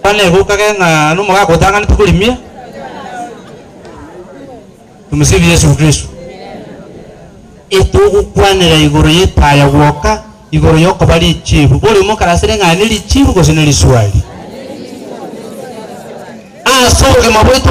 Buna negoka kere ng'a nomogaka otang'anete korimia, Tumsifu Yesu Kristo. Etogokwanera igoro y'etaya gwoka, igoro y'okoba richiifu. Bore omokarasire ng'a ne richiifu gose ne riswari. Ase obogima bwaito.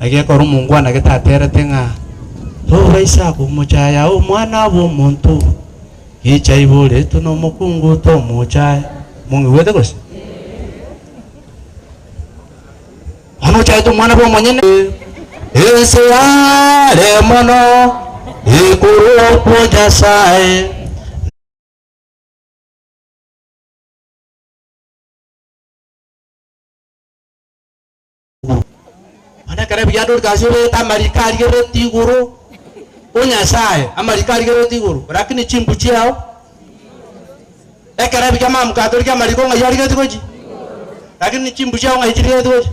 Agekora omongwana getaterete ng'a toba isiko omochaya omwana abe omonto obo. Gicha aibwe oretwe nomokungu tomochaya. Mong'igwete gose? Bono ochayete omwana bwa omonyene. Ense yare mono igoro okwo Nyasaye. Mana ekero ebiyandoretwe ase oboyete amariko arigereretie igoro, O Nyasae, amariko arigereretie igoro, rakini chimbu chiao. Ekero ebiya amaamko atorigia amariko ng'ai arigeretie gochia? Rakini chimbu chiao ng'ai chirigeretie gochia?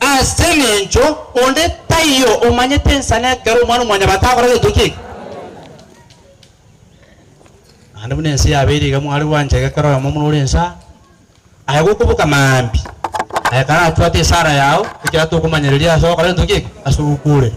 Ase engencho onde taiyo omanyete ensano ekero Omwana-o-mwanyabanto agokora gento ki'eki. Naende buna ense yabeire iga mware gwancha iga kera oyomo buna ore ensa, aye gokoboka maambia, aye karachwate esara yao, ekiagera tokomanyereria ase ogokora gento ki'eki, ase ogokuurera.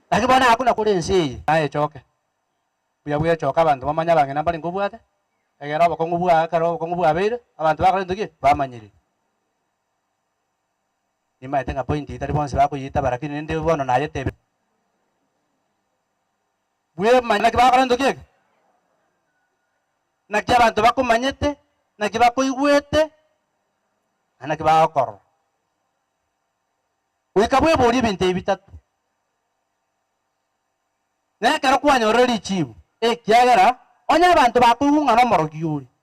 Naki bono agwo nakwo ore ense eye nayechoke, mbuya bwechoka abanto bamanye abang'ina mbarenge obwate, egere obokong'u bwao ekero obokong'u bwabeire, abanto bakorentwe ki? Bamanyire. Nimaete ng'a point eye tari bonsi bakoyetaba lakini rende bono nayetebire. Bwemanya naki bakorentwe ki eke? Naki abanto bakomanyete, naki bakoigwete, naende naki bagokorora. Goika bweborie ebinto ebi bitato, Nekero kwanyorire richiibu? Ekiagera onye abanto bakoigwa ng'a nomorogi ore,